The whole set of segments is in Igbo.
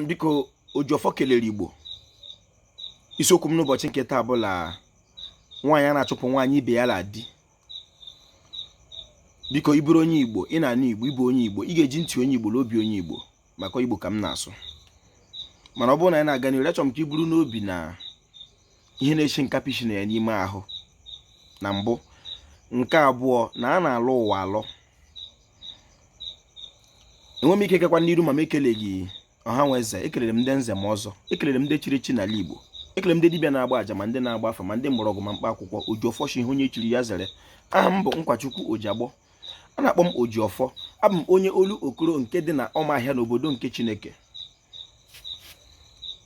biko Ojiọfọ kelere Igbo isiokwu m n'ụbọchị nke taa bụ la nwaanyị ana achụpụ nwaanyị ibe ya la di biko ị bụrụ onye Igbo ị na-anụ Igbo ị bụ onye Igbo ị ga-eji ntị onye Igbo na obi onye Igbo maka Igbo ka m na-asụ mana ọ bụrụ na anyị na-aga n'ihu achọrọ m ka i buru n'obi na ihe na-esi nkapị shi na ya n'ime ahụ na mbụ nke abụọ na a na-alọ ụwa alọ enwe m ike gakwa n'iru ma m ekeleghị ọha nwe eze ekelere m ndị nze ma ọzọ ekelere m ndị chiri echi n'ala igbo ekelere m ndị dibịa na-agba aja ma ndị na-agba afa ma ndị mgbọrọgwụ ma mkpa akwụkwọ ojiọfọ shi ihe onye chiri ya zere aha m bụ nkwachukwu ojiagbọ a na-akpọ m ojiọfọ abụ m onye olokoro nke dị na ọmahịa n'obodo nke chineke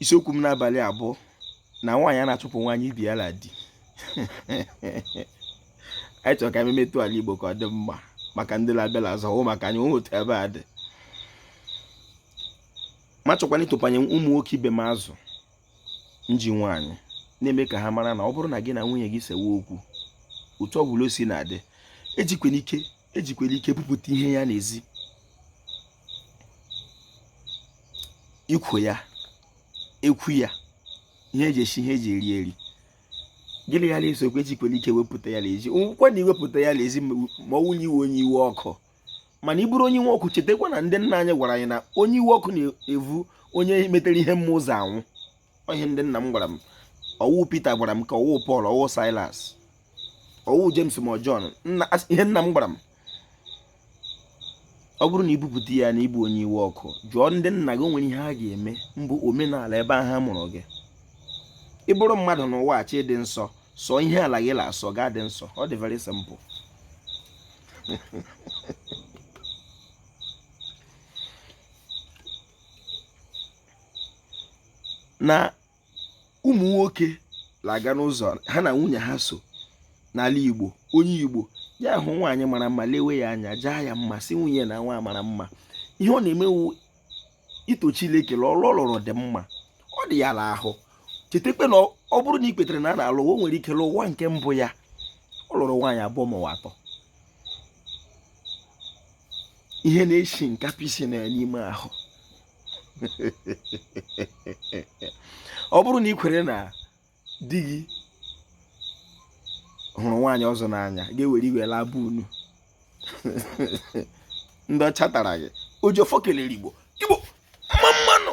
isiokwu m n'abalị a bụ na nwaanyị ana achụpụ nwaanyị ibe ya la di anyị chọrọ ka e memetụ ala Igbo ka ọ dị mma maka ndị la-abịa la azụ maka anyị onwe otu ebe a dị ma chọkwana ịtụpanye ụmụ nwoke ibe m azụ nji nwaanyị na-eme ka ha mara na ọ bụrụ na gị na nwunye gị sewe okwu otu ọ bụla o si na-adị ejikwana ike ejikwala ike bupụta ihe ya n'ezi ikwe ya ekwu ya ihe e ji esi ihe e ji eri eri gị la ya la-ese okwu ejikwala ike wepụta ya n'ezi nwekwa na iwepụta ya n'ezi ma ọ wụ la ị wụ onye iwe ọkụ mana ị bụrụ onye iwe ọkụ chetakwa na ndị nna anyị gwara anyị na onye iwe ọkụ na-evu onye metara ihe mma ụzọ anwụ ihe ndị nna m gwara m ọ wụ Peter gwara m ka ọ wụ Paul ọ wụ Silas ọ wụ James ma John ihe nna m gwara m ọ bụrụ na i bupụta ya na ị bụ onye iwe ọkụ jụọ ndị nna gị o nwere ihe ha ga-eme mbụ omenala ebe ahụ a mụrụ gị ị bụrụ mmadụ n'ụwa chọọ ịdị nsọ sọọ ihe ala gị na-asọ ị ga-adị nsọ ọ dị very simple na ụmụ nwoke na-aga n'ụzọ ha na nwunye ha so n'ala Igbo onye Igbo ya hụ nwaanyị mara mma lewe ya anya jaa ya mma sị nwunye ya na nwa a mara mma ihe ọ na-eme wụ ito Chineke na ọrụ ọ lụrụ dị mma ọ dị ya n'ahụ chetakwa na ọ bụrụ na i kwetara na a na-alọ ụwa o nwere ike la ụwa nke mbụ ya ọ lụrụ nwaanyị abụọ ma ọ wụ atọ ihe na-esi nkapị si na ya n'ime ahụ ọ bụrụ na i kwere na di gị hụrụ nwaanyị ọzọ n'anya gị ewere iwe laa be unu ndị ọcha tara gị ojiọfọ kelere igbo igbo mma mma nụ